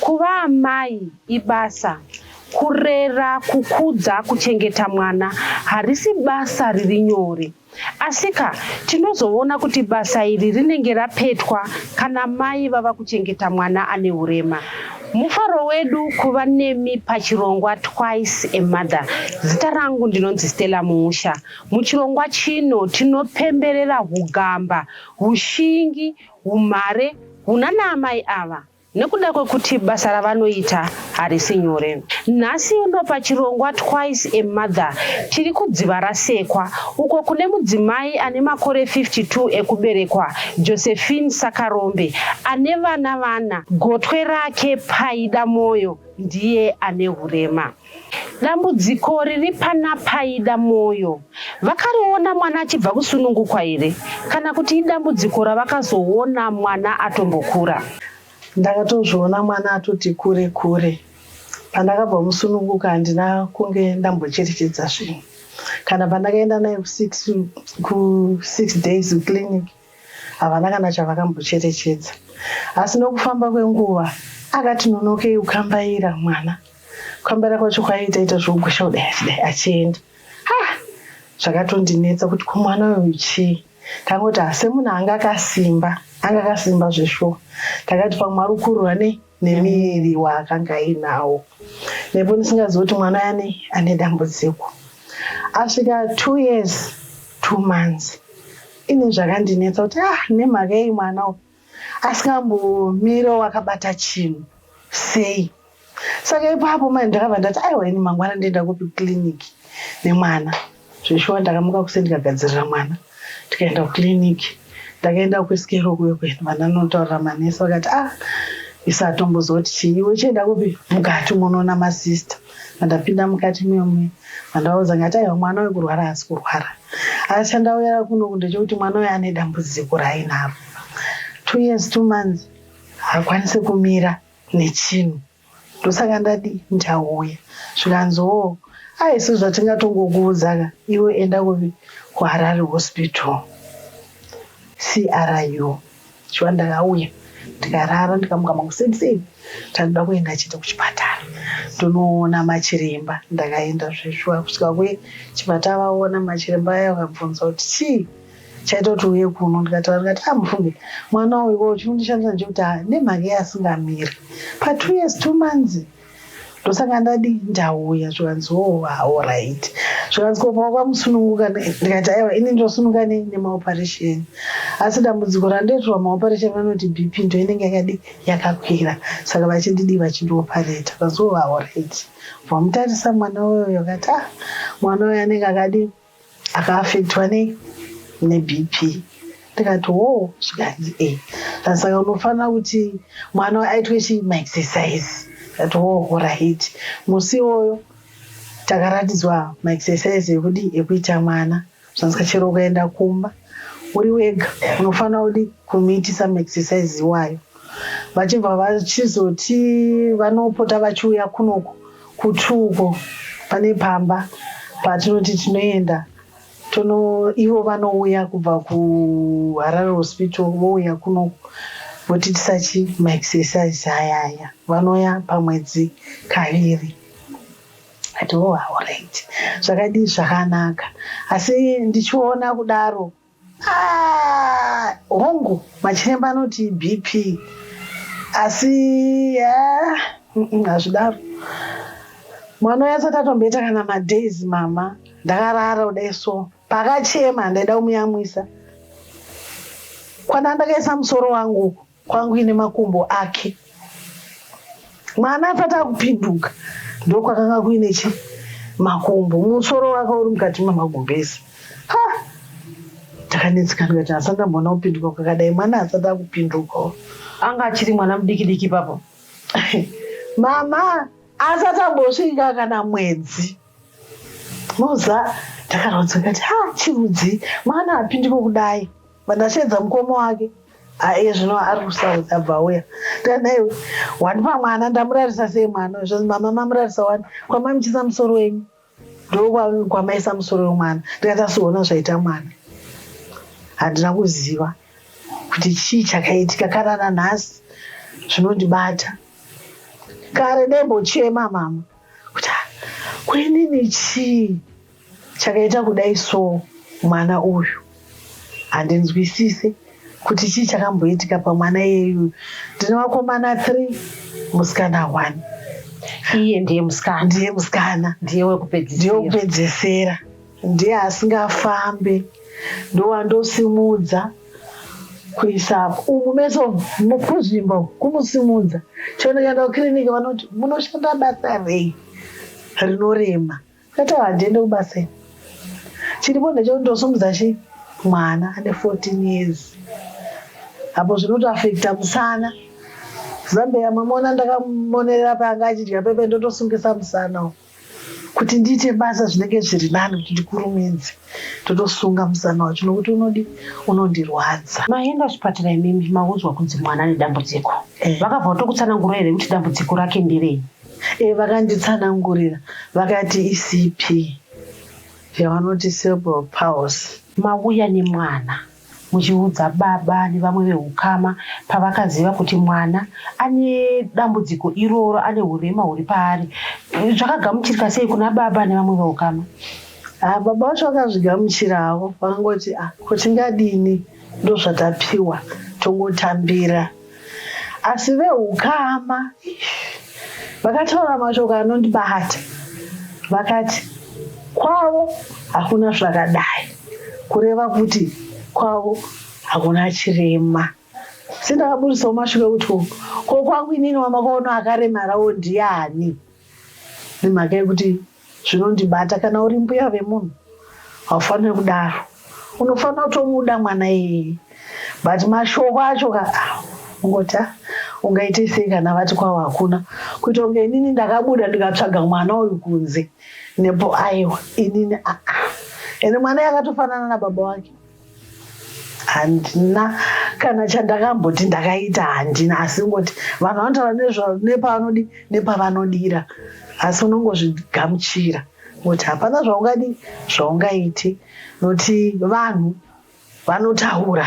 Kuva amai ibasa kurera kukudza kuchengeta mwana harisi basa riri nyore asika tinozoona kuti basa iri rinenge rapetwa kana mai vava kuchengeta mwana ane urema mufaro wedu kuva nemi pachirongwa twice a mother zita rangu ndinonzi stella muusha Muchirongwa chino tinopemberera hugamba, hushingi, humhare hunana amai ava nekuda kwekuti basa ravanoita harisi nyore. Nhasi uno pachirongwa Twice a Mother tiri kuDzivarasekwa uko kune mudzimai ane makore 52 ekuberekwa, Josephine Sakarombe, ane vana vana. Gotwe rake Paida Moyo ndiye ane hurema. Dambudziko riri pana Paida Moyo vakariona mwana achibva kusunungukwa here kana kuti idambudziko ravakazoona mwana atombokura? Ndakatozviona mwana atoti kure kure. Pandakabva musununguka handina kunge ndambocherechedza zvinhu. Kana pandakaenda naye kusix days clinic Havana kana chavakambocherechedza, asi nokufamba kwenguva akati nonokei kukambaira mwana. Kukambaira kwacho kwaiita ita zvokugwesha kudai achidai achienda. Ha! Zvakatondinetsa kuti ko mwana uyu chii? Ndangoti asi munhu anga akasimba, anga akasimba zveshuwa. Ndakati pamwe ari kurwa nei? nemiviri waakanga ainawo nepo ndisingazivi kuti mwana yani ane dambudziko asvika two years two months ini zvakandinetsa kuti ah nemhaka yei mwana uyu asingambomiro wakabata chinhu sei saka ipapo mani ndakabva ndati aiwa ini mangwana ndoenda kupi kiliniki nemwana Zveshuwa ndakamuka kuseni ndikagadzirira mwana tikaenda kuclinic. Ndakaenda kuSkero kuyo kwenu vana notaurira manesi vakati ah isu hatombozoti chii uchienda kupi mukati umonoona masister vandapinda mukati muyomwe vandavaudza ngati aiwa mwana uyu kurwara haasi kurwara asi chandauyara kuno kunde chekuti mwana uyu ane dambudziko raainaro two years two months hakwanise kumira nechinhu Ndosaka ndati ndichauya zvikanzi hoo haisu zvatingatongokuudza ka iwe enda kupi kuHarare Hospital CRU shuwa ndakauya ndikarara ndikamuka makuseni seni tanoda kuenda chete kuchipatara tonoona machiremba ndakaenda zveshuwa kusvika kuchipatara vaona machiremba aya vakabvunza kuti chii chaitoti uye kuno ndikataura ndikati ah mufunge mwana uyu wo chinondishandisa ndechekuti ah, nemhaka yeasingamiri pa two years two months ndosaka ndadii ndauya zvikanzi oh aorit ah, zvikanzi kopa kwamusununguka ndikati aiwa ini ndosununga nei nemaoperation asi dambudziko randoitirwa maoperation vanoti bp ndo inenge yakadii yakakwira saka vachindidii vachindiopareta zvikanzi oh aorit ah, bva mutarisa mwana uyoyo kati ah mwana uyo anenge akadii akaafektwa ne nebp ndikati wo zvikanzi e eh. saka unofanira kuti mwana aitwe chii maexercise ndikati wo horaiti musi iwoyo takaratidzwa maexercise ekudi ekuita mwana zvansika chero ukaenda kumba uri wega unofanira kudi kumiitisa maexercise iwayo vachibva vachizoti vanopota vachiuya kunoko Kutwu uko pane pamba patinoti tinoenda tono ivo vanouya kubva kuharare hospital vouya kuno votiitisa chi maexercise aya aya vanoya pamwedzi kaviri ati oh auright zvakadii zvakanaka asi ndichiona kudaro Ah, hongu machiremba anoti bp asi ah, mm, mm, hazvidaro mwana uya asati atomboita kana madays mama ndakarara kudai so pakachema ndaida kumuyamwisa kwana ndakaisa musoro wangu uku Kwangu ine makumbo ake. Mwana asati akupinduka ndokwakanga kuine chi makumbo musoro wake uri mukati memagumbezi. Ha! Ndakanetsekana kuti asati ndamboona kupinduka kwakadai mwana asati akupinduka. Anga achiri mwana mudiki diki papo. Mama asati ambosvika kana mwedzi. Moza takarwadziwa kati ha chirudzi mwana apindiko kudai. Pandasheedza mukoma wake aiye zvino ari kusouth abva auya tanaiwe wani pamwana ndamurarisa sei mwana zvinzi mama mamurarisa wani kwamamichisa musoro wenyu ndokwamaisa musoro wemwana ndikati asiona zvaita mwana handina kuziva kuti chii chakaitika kana nanhasi zvinondibata kare ndaimbochema mama kuti ah, kwenini chii Chakaita kudai soo mwana uyu handinzwisise kuti chii chakamboitika pamwana iyeyu ndine vakomana three musikana one iye ndiye musikana ndiye musikana ndiye wekupedzesera ndiye asingafambe ndowandosimudza kuisa umu meso kuzvimbo kumusimudza chonoenda kukiriniki vanoti munoshanda basa rei rinorema Tata handiende kubasa ini. Chiripo ndechekuti ndosumudza chii? Mwana ane 14 years. Apo zvinotoafekta musana. Zambeya mamona ndakamonerera paanga achidya pepe ndotosungisa musana uwo. Kuti ndiite basa zvinenge zviri nani kuti ndikurumidze. Ndotosunga musana wacho nokuti unodi unondirwadza. Maenda kuchipatara imimi maudzwa kunzi mwana ane dambudziko. Eh. Vakabva vatokutsanangurira here kuti dambudziko rake nderei? E, vakanditsanangurira vakati icp yavanoti cerebral palsy. Mauya nemwana muchiudza baba nevamwe vehukama pavakaziva kuti mwana ane dambudziko iroro, ane hurema huri paari. Zvakagamuchirika sei kuna baba nevamwe vehukama? Ah, baba vacho vakazvigamuchira havo vakangoti ah, ko tingadini ndozvatapiwa tongotambira asi vehukama vakataura mashoko anondibata vakati kwavo hakuna zvakadai kureva kuti kwavo hakuna chirema sendakabudisawo mashoko ekuti ko kwangu inini wamakaona akaremarawo ndiani nemhaka yekuti zvinondibata kana uri mbuya vemunhu haufanire kudaro unofanira kutomuda mwana iyeye but mashoko acho ka ungoti ah, ungaite sei kana vati kwavo hakuna kuita kunge inini ndakabuda ndikatsvaga mwana uyu kunze nepo aiwa inini aa ah, ah. ende mwana yakatofanana nababa wake handina kana chandakamboti ndakaita handina asi ngoti vanhu vanotaura nepavanodi nepavanodira asi unongozvigamuchira ngoti hapana zvaungadi zvaungaiti noti vanhu vanotaura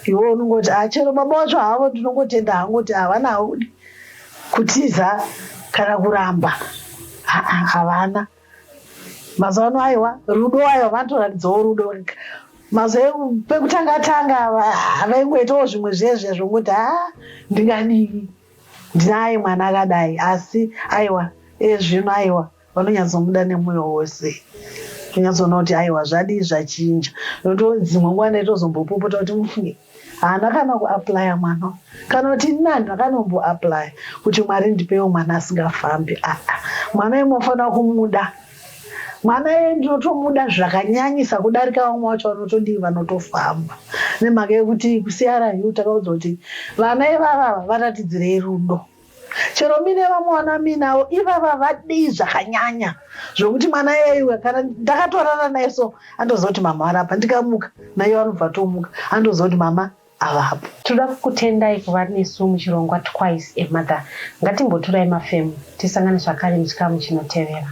iwe unongoti ah, chero baba wacho havo ndinongotenda hangoti havana haudi kutiza kana kuramba havana mazuva ano aiwa rudo aiwa vanotoratidzawo rudo mazuva pekutanga tanga vaingoitawo zvimwe zvezve zvongokuti ha ah, ndingadii ndinaye mwana akadai asi aiwa ezvino aiwa vanonyatsomuda nemwoyo wose tonyatsoona kuti aiwa zvadii zvachinja nokuti dzimwe nguva ndaitozombopopota kuti mufunge Haana kana kuaplaya mwana uyu. Kana kuti ini handina kana kumboaplaya kuti Mwari ndipeiwo mwana asingafambi. Aa mwana uyu mofanira kumuda. Mwana uyu ndinotomuda zvakanyanyisa kudarika vamwe vacho vanotodii vanotofamba. Nemhaka yekuti kuCRU takaudzwa kuti vana ivava varatidzirei rudo. Chero mine vamwe vana minavo ivava vadii zvakanyanya zvokuti mwana yaiwe kana ndakatorara naye so andoziva kuti mama varapa ndikamuka naye vanobva tomuka andoziva kuti mama avapo tinoda kukutendai kuva nesu muchirongwa twice a mother ngatimboturai mafemo tisangane zvakare muchikamu chinotevera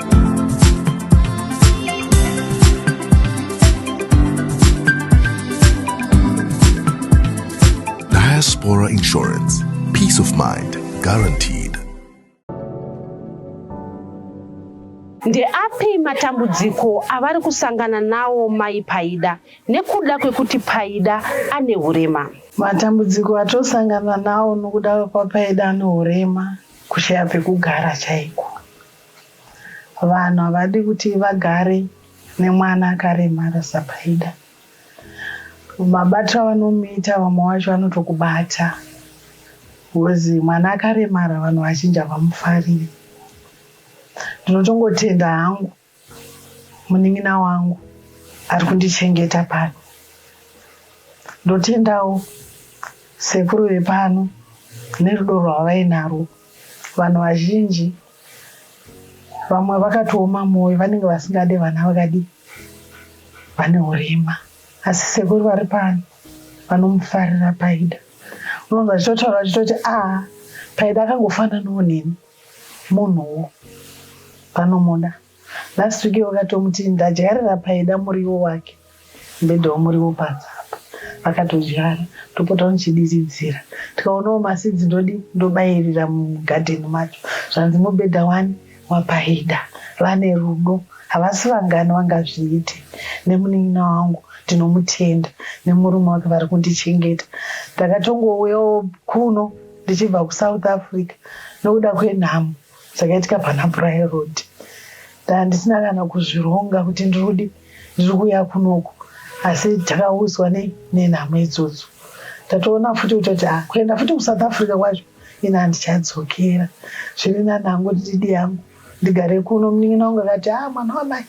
Diaspora Insurance. Peace of mind guaranteed. Ndeapi matambudziko avari kusangana nawo mai Paida nekuda kwekuti Paida ane hurema? Matambudziko atosangana nawo nokuda kwekwapaida ane hurema kushaya pekugara chaiko. Vanhu havadi kuti vagare nemwana akaremara saPaida. Mabatiro avanomuita vamwe wacho anotokubata bhozi mwana akaremara vanhu vazhinji havamufariri. Ndinotongotenda hangu munin'ina wangu ari kundichengeta pano. Ndotendawo sekuru vepano nerudo rwavainarwo. Vanhu vazhinji vamwe vakatooma mwoyo vanenge vasingade vana vakadii vane urema asi sekuru vari pano vanomufarira paida unonzi vachitotaura vachitoti a ah, paida akangofananawo neni munhuwo vanomuda Last week wakatomuti ndadyarira paida muriwo wake ndoidawo muriwo padzapa vakatodyara ndopota ndichidiridzira tikaonawo masidzi ndodi ndobairira mugadheni macho zvanzi mubhedha wani wapaida vane rudo havasi vangani vangazviite nemunin'ina wangu ndinomutenda nemurume wake vari kundichengeta ndakatongouyawo kuno ndichibva kusouth africa nokuda kwenhamo Zvakaitika pana Brian Road ndandisina kana kuzvironga kuti ndirudi ndiri kuuya kunoku asi takaudzwa nenhamo idzodzo tatoona futi kuti kuti ah, kuenda futi kusouth africa kwacho ini handichadzokera zviri nani hangu ndididi yangu ndigare kuno munin'ina wangu akati a ah, mwana wamai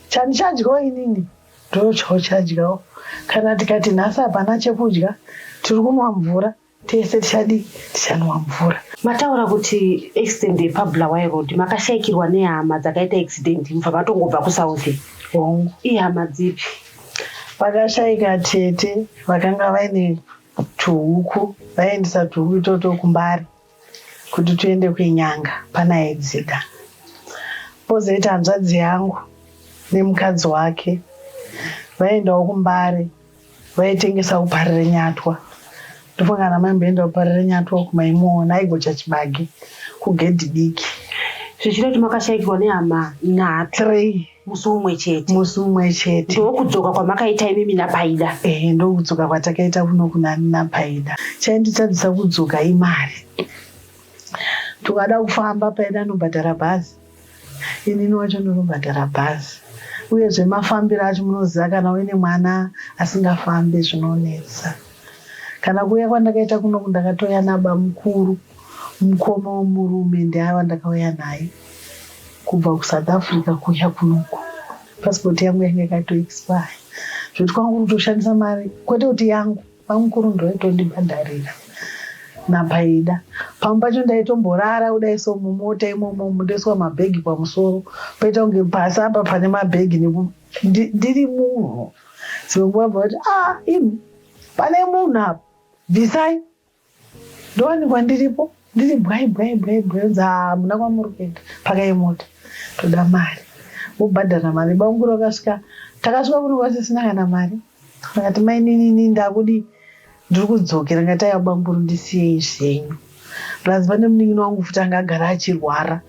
chandichadyawo inini ndochawo chadyawo kana tikati nhasi hapana chekudya tiri kunwa mvura Tese tichadii? Tichanwa mvura. Mataura kuti accident yepaBulawayo Road makashaikirwa nehama dzakaita accident mubva matongobva kuSouth. Hongu. Ihama dzipi? Vakashaika tete vakanga vaine tuhuku vaiendesa tuhuku itoto kumbari kuti tuende kwenyanga panaedzida pozoita hanzvadzi yangu nemukadzi wake vaendawo kumbare vaitengesa uparire nyatwa ndofunga kana maimboenda uparire nyatwa uku maimuona aigocha chibage kugedhi diki zvichida kuti makashaikirwa nehama nhatu three musi umwe chete musi umwe chete ndokudzoka kwamakaita imimi napaida ehe ndokudzoka kwatakaita kuno kunani napaida chainditadzisa kudzoka imari tukada kufamba paida anobhadhara bhazi inini wacho ndinobhadhara bhazi uye zvemafambiro acho munoziva kana uine mwana asingafambe zvinonetsa kana kuuya kwandakaita kunoku ndakatouya naba mukuru mukoma womurume ndiava ndakauya naye kubva kusouth africa kuuya kunoku pasipoti yangu yange yakatoexpire zvoti kwangu kutoshandisa mari kwete kuti yangu Bamukuru ndoitondibhadharira napaida pamwe pacho ndaitomborara kudai so mumota imomo ndoiswa mabhegi pamusoro poita kunge pasi apa pane mabhegi ndiri munhu dzimwe nguva bva kuti a ah, imi pane munhu apa bvisai ndowanikwa ndiripo ndiri bwai bwai bwai bwai unzi haa hamuna kwamuri kuenda pakai mota toda mari vobhadhara mari bamukuru vakasvika takasvika kuri kwati sina kana mari vakati maininini ndakudi ndiri kudzokera ngati aiwa bamukuru ndisiyei zvenyu plus pane munin'ina wangu futi anga agara achirwara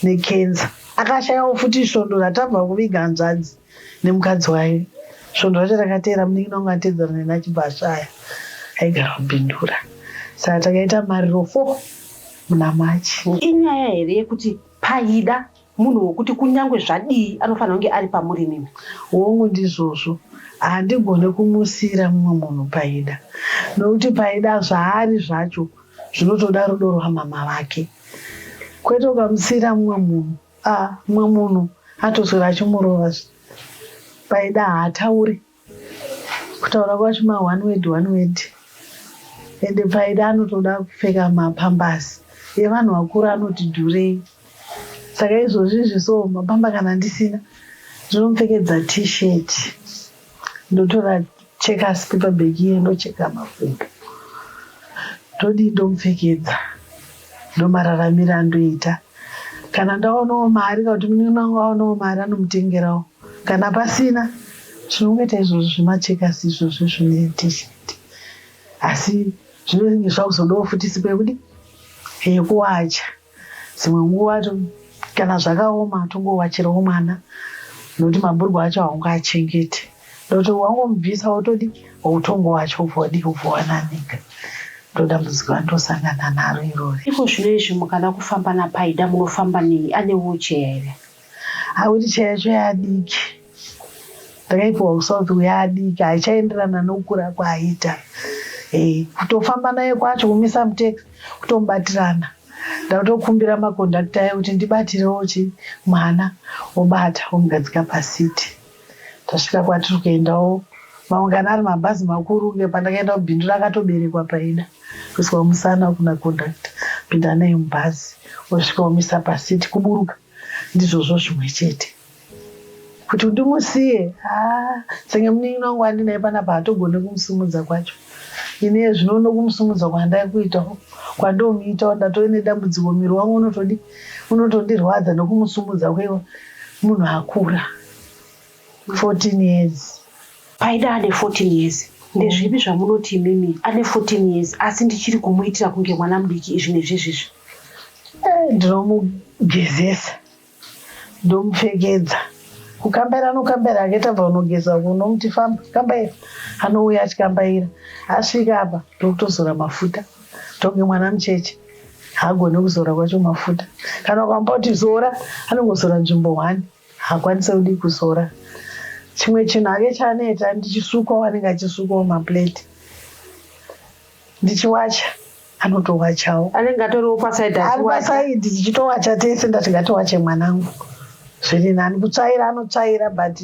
nekenza akashayawo futi svondo ratabva kuviga hanzvadzi nemukadzi waye svondo racho rakateera munin'ina wangu atedzana neni achibva ashaya aigara kubindura saka takaita mariro fo muna machi inyaya here yekuti paida munhu wokuti kunyange zvadii anofanira kunge ari pamuri nini hongu ndizvozvo handigone kumusiira mumwe munhu paida nokuti paida zvaari zvacho zvinotoda rudo rwamama vake kwete ukamusiira mumwe munhu Ah mumwe munhu atoswera achimurova paida haatauri kutaura kwacho ma one word one word ende paida anotoda kupfeka mapambasi yevanhu vakuru anoti dhurei saka izvozvi izvi so mapamba kana ndisina ndinomupfekedza t-shirt ndotora cheka sipepa bhegi iye ndocheka makumbo ndodii ndomupfekedza ndomararamira andoita kana ndaonawo mari kana kuti munin'ina wangu aonawo mari anomutengerawo kana pasina tinongoita izvozvo zvemachekasi izvozvo zvine tisheti asi zvinenge zvakuzodawo futi sipo yekuti yekuwacha Dzimwe nguva kana zvakaoma tongowachirawo mwana nokuti mabhurugwa acho haungaachengete nokuti wangomubvisa wotodi utongo wacho ubva wadii ubva wananika ndodambudziko andosangana naro irori. Iko zvino izvi mukada kufamba naPaida munofamba nei? Ane wheelchair here? Akuti chai yacho yaadiki ndakaipiwa kusa kuti yaadiki haichaenderana nokukura kwaaita eh, kutofamba naye kwacho kumisa mutex kutomubatirana ndatokumbira makondakta aye kuti ndibatirewo chi mwana wobata womugadzika pasiti tasvika kwatiri kuendawo maungana ari mabhazi makuru kunge pandakaenda kubindu rakatoberekwa paida kuiswa musana kuna kondakta pinda naye mubhazi osvika omisa pasiti kuburuka Ndizvozvo zvimwe chete kuti ndimusiye ah, senge munin'ina wangu andinaye panapa hatogone kumusumudza kwacho ini zvino uno kumusumudza kwandaikuitawo kwandomuitawo ndatove nedambudziko miri wangu unotodi unotondirwadza nekumusumudza kwewa munhu akura 14 years. Paida ane 14 years. Ndezvipi zvamunoti imimi ane 14 years asi ndichiri kumuitira kunge mwana mudiki izvi nezvizvizvi? Eh, ndinomugezesa ndomupfekedza kukambaira anokambaira hake tabva kunogeza uko unomuti famba kambaira anouya achikambaira asvika apa ndokutozora mafuta tonge mwana mucheche haagone kuzora kwacho mafuta kana ukamba kuti zora anongozora nzvimbo hwani Hakwanise kudii kuzora chimwe chinhu ake chaanoita ndichisukwawo anenge achisukwawo maplate ndichiwacha anotowachawo anenge atoriwo pasaidi ari pasaidi tichitowacha tese ndati ngatiwache mwanangu zviri nani kutsvaira anotsvaira but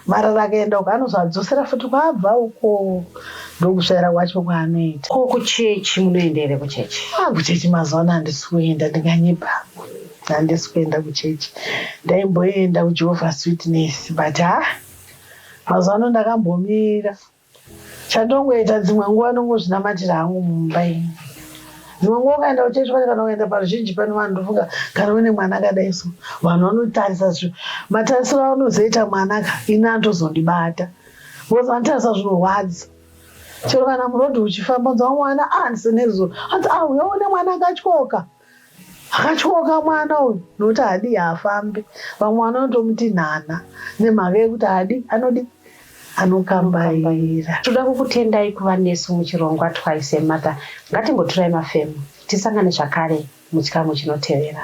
marara akaenda uko anozadzosera futi kwabva uko ndokusvaira kwacho kwaanoita ko kuchechi munoenda here kuchechi ah, kuchechi mazuva ano handisi kuenda ndinganyepa Handisi kuenda kuchechi. Ndaimboenda kuJehovah's Witness but ha mazuva ano ndakambomira. Chandongoita dzimwe nguva ndongozvinamatira hangu mumba ini. Dzimwe nguva ukaenda kuchechi kwacho kana ukaenda paruzhinji pano vanhu ndofunga kana une mwana akadai so vanhu vanotarisa zvinhu. Matarisiro aunozoita mwana ka ini anotozondibata because vanotarisa zvinorwadza. Chero kana murodhi uchifamba unzwa mwana ah, hanzi nezuva hanzi ah uya une mwana akatyoka. Akatyoka mwana uyu nokuti haadi haafambe. Vamwe vanotomuti nhana nemhaka yekuti haadi anodi anokambaira. Toda kukutendai kuva nesu muchirongwa Twice a Mother. Ngatimboturai mafemo. Tisangane zvakare muchikamu chinotevera.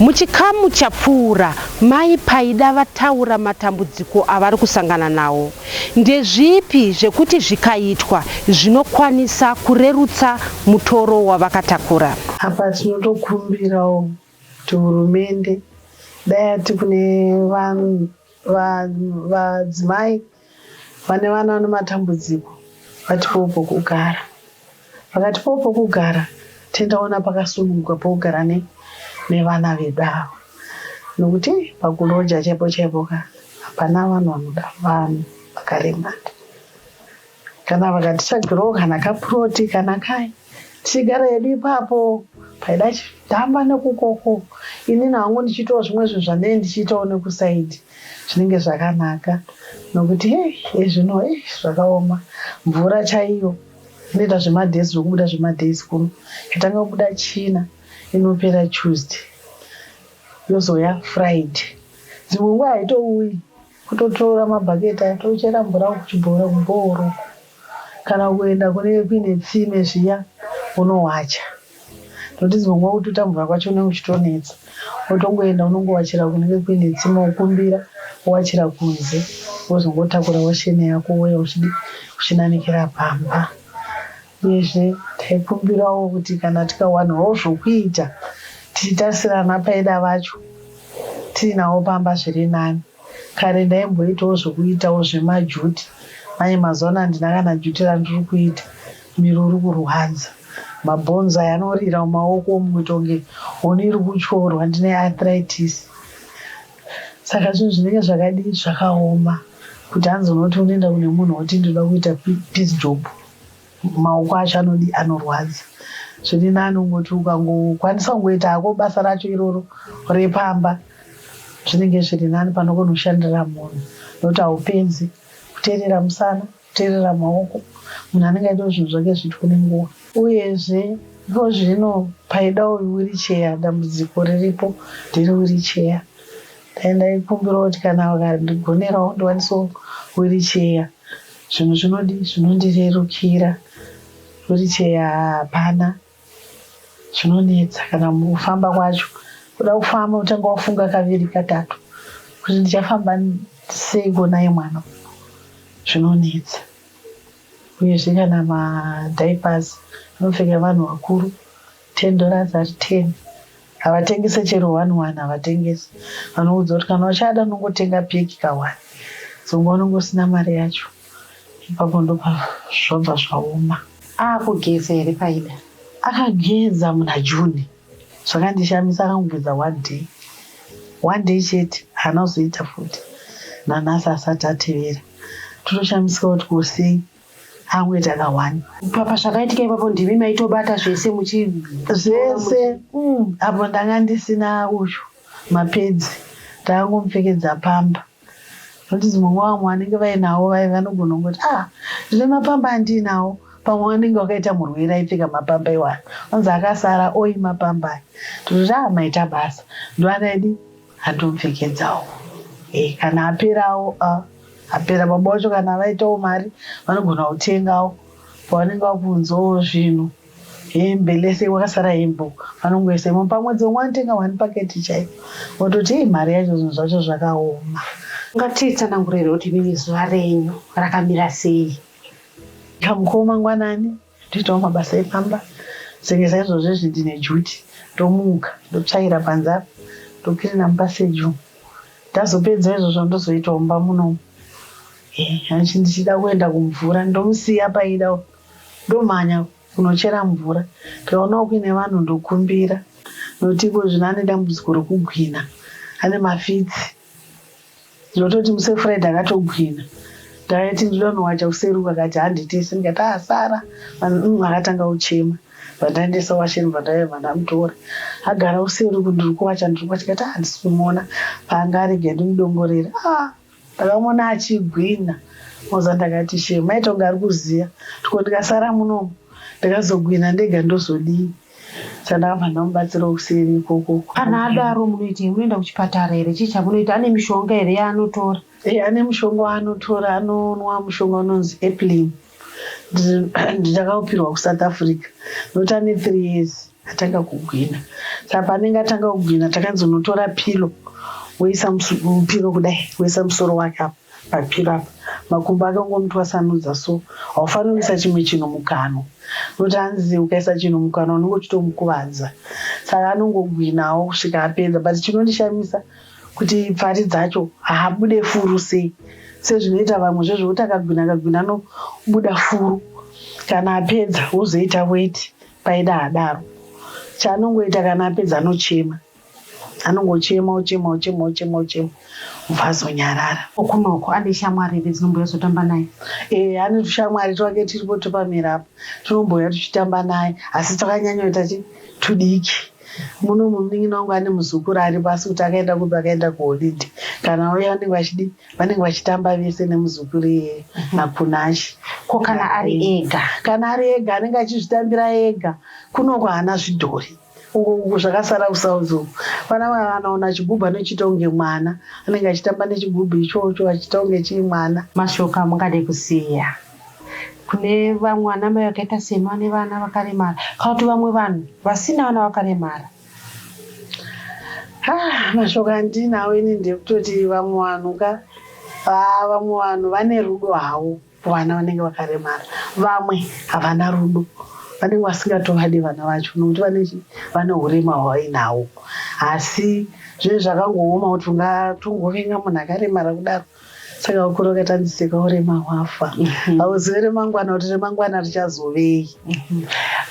Muchikamu chapfuura, Mai Paida vataura matambudziko avari kusangana nawo. Ndezvipi zvekuti zvikaitwa zvinokwanisa kurerutsa mutoro wavakatakura? Apa tinotokumbirawo kuti hurumende dai yati kune vadzimai vane vana vane matambudziko vatipewo pokugara vakatipewo pokugara tendaona pakasununguka pokugara ne nevana vedu ava nokuti pakuloja chaipo chaipo ka hapana vanhu vanoda vanhu vakaremara kana vakatitsvagirawo kana kapuroti kana kai tichigara yedu ipapo paida chidhamba nekukoko inini hangu ndichiitawo zvimwe zvinhu zvanei ndichiitawo nekusaidi Zvinenge zvakanaka nokuti hey, ezvino hey, zvakaoma mvura chaiyo inoita zvemadays nokubuda zvemadays kuno yotanga kubuda china inopera tuesday yozoya friday dzimwe nguva haitouyi kutotora mabhaketi aya tochera mvura kuchibhora kubhooro Kana kuenda kune kuine tsime zviya wonowacha notice pangua kututa mvura kwacho kunenge kuchitonetsa wotongoenda wonongowachira kunenge kuine tsime wokumbira wowachira kunze wozongotakura washeni yako wouya uchidii uchinanikira pamba uyezve taikumbirawo kuti kana tikawanawo zvokuita tichitarisirana paida vacho tiinawo pamba zviri nani. Kare ndaimboitawo zvekuitawo zvemajuti manje mazuva ano handina kana juti randiri kuita miro uri kurwadza mabhonzo aya anorira mumaoko umu kuita kunge huni iri kutyorwa ndine arthritis saka zvinhu zvinenge zvakadii zvakaoma kuti hanzi unoti unoenda kune munhu woti ndinoda kuita peace job Maoko acho anodii anorwadza zviri nani ungoti ukangokwanisa kungoita hako basa racho iroro repamba zvinenge zviri nani pano kunoshandira munhu nokuti haupedzi kuteerera musana kuteerera maoko munhu anenge aitawo zvinhu zvake zviitwe nenguva uyezve iko zvino paidawo wiricheya dambudziko riripo ndere wiricheya Dai ndaikumbirawo kuti kana vakandigonerawo ndiwanisewo wiricheya zvinhu zvinodii zvinondirerukira wiricheya hapana zvinonetsa kana kufamba kwacho kuda kufamba utanga wafunga kaviri katatu kuti ndichafamba seiko naye mwana zvinonetsa uyezve kana madiapers anopfeka vanhu vakuru Ten dollars ari ten havatengese chero one one havatengese vanoudza kuti kana uchada unongotenga peki ka one so nguva unonge usina mari yacho ipapo ndopa zvobva zvaoma akugeza here paida akageza muna june zvakandishamisa akangogeza one day one day chete haana kuzoita futi nanhasi asati atevera totoshamisika kuti kosei hangu ita ka one papa zvakaitika ipapo ndimi maitobata zvese muchi zvese mm, apo ndanga ndisina uyu mapedzi ndakangomupfekedza pamba nokuti dzimwe nguva vamwe vanenge vainawo vaye vanogona kungoti ah ndine mapamba andiinawo pamwe vanenge vakaita murwere aipfeka mapamba iwana anzi akasara oi mapamba aya tototi ah maita basa ndovana idi Atopfekedzawo eh, kana aperawo ah, apera baba wacho kana vaitawo mari vanogona kutengawo pavanenge vakunzwawo zvinhu hembe lese wakasara hembe vanongoisa imwe pamwedzi vamwe vanotenga one paketi chaiyo vototi hii mari yacho zvinhu zvacho zvakaoma ngatitsanangurire kuti mimi zuva renyu rakamira sei kamukoma ngwanani Ndoitawo mabasa epamba senge saizvozvo izvi ndine juti ndomuka ndotsvaira panze apa ndokirina mupaseji umu ndazopedza izvozvo ndozoitawo mba munomu hanchi ndichida kuenda kumvura ndomusiya paida ndomhanya kunochera mvura ndikaonawo kuine vanhu ndokumbira nokuti iko zvino ane dambudziko rokugwina ane mafitsi Ndototi muse Fred akatogwina ndakati ndinoda kunowacha kuseri uko akati handitese ndikati ah Sara mm, akatanga kuchema vandaendesa washeni vandaive vandamutora agara useri uko ndiri kuwacha ndiri kuwacha ndikati ah handisi kumuona paanga arege ndimudongorere ah ndakamuona achigwina moza ndakati shema itonga ari kuziva tiko ndikasara munomu ndikazogwina ndega ndozodii Saka vana mubatsiro kuseri ikoko. Kana adaro munoitei munoenda kuchipatara here chii chamunoita ane mishonga here yaanotora. Ehe ane mushonga waanotora anonwa mushonga unonzi Eplin nditakaupirwa kuSouth Africa nokuti ane three years atanga kugwina saka paanenge atanga kugwina takanzi unotora pilo woisa pilo kudai woisa musoro wake apo Papira apa makumbo ake ungomutwasanudza so haufaniri kuisa chimwe chinhu mukanwa nokuti hanzi ukaisa chinhu mukanwa unenge uchitomukuvadza saka anongogwinawo kusvika apedza but chinondishamisa kuti pfari dzacho haabude furu sei sezvinoita vamwe zvezvokuti akagwina akagwina anobuda furu kana apedza wozoita weti paida adaro chaanongoita kana apedza anochema anongochema ochema ochema ochema ochema obva azonyarara kunoko ane shamwari here dzinombouya zotamba naye e ane tushamwari twake tiripo topamira apo tinombouya tuchitamba naye asi twakanyanyoita chi tudiki muno munin'ina wangu ane muzukuru aripo asi kuti akaenda kupi akaenda kuholide kana uya vanenge vachidi vanenge vachitamba vese nemuzukuru iyeye mhm. nakunashe ko kana ari ega kana ari ega anenge achizvitambira ega kunoko haana zvidhori uko uku zvakasara kusouth uku vana vanaona chigubhu anochiita kunge mwana anenge achitamba nechigubhu ichocho achiita kunge chii mwana mashoko amungade kusiya kune vamwe ana mai vakaita semi vane vana vakaremara kana kuti vamwe vanhu vasina vana vakaremara ah, mashoko andinawo ini ndekutoti vamwe vanhu ka ah, vamwe vanhu vane rudo havo Vana vanenge vakaremara, vamwe havana rudo, vanenge vasingatovadi vana vacho nokuti vane vane urema hwavainahwo. Asi zvinenge zvakangooma kuti ungatongovenga munhu akaremara kudaro saka ukura ukati hanzi seka urema hwafa mhm. hauzive remangwana kuti remangwana richazovei mhm.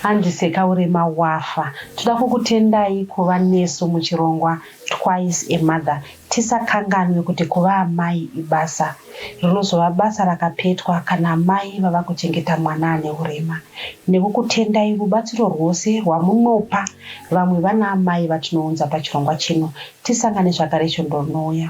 hanzi seka urema wafa toda kukutendai kuva nesu muchirongwa twice a mother Tisakanganwe kuti kuva amai ibasa rinozova basa rakapetwa kana amai vava kuchengeta mwana ane urema. Nekukutendai rubatsiro rwose rwamunopa vamwe vana amai vatinounza pachirongwa chino, tisangane zvakare svondo rinouya.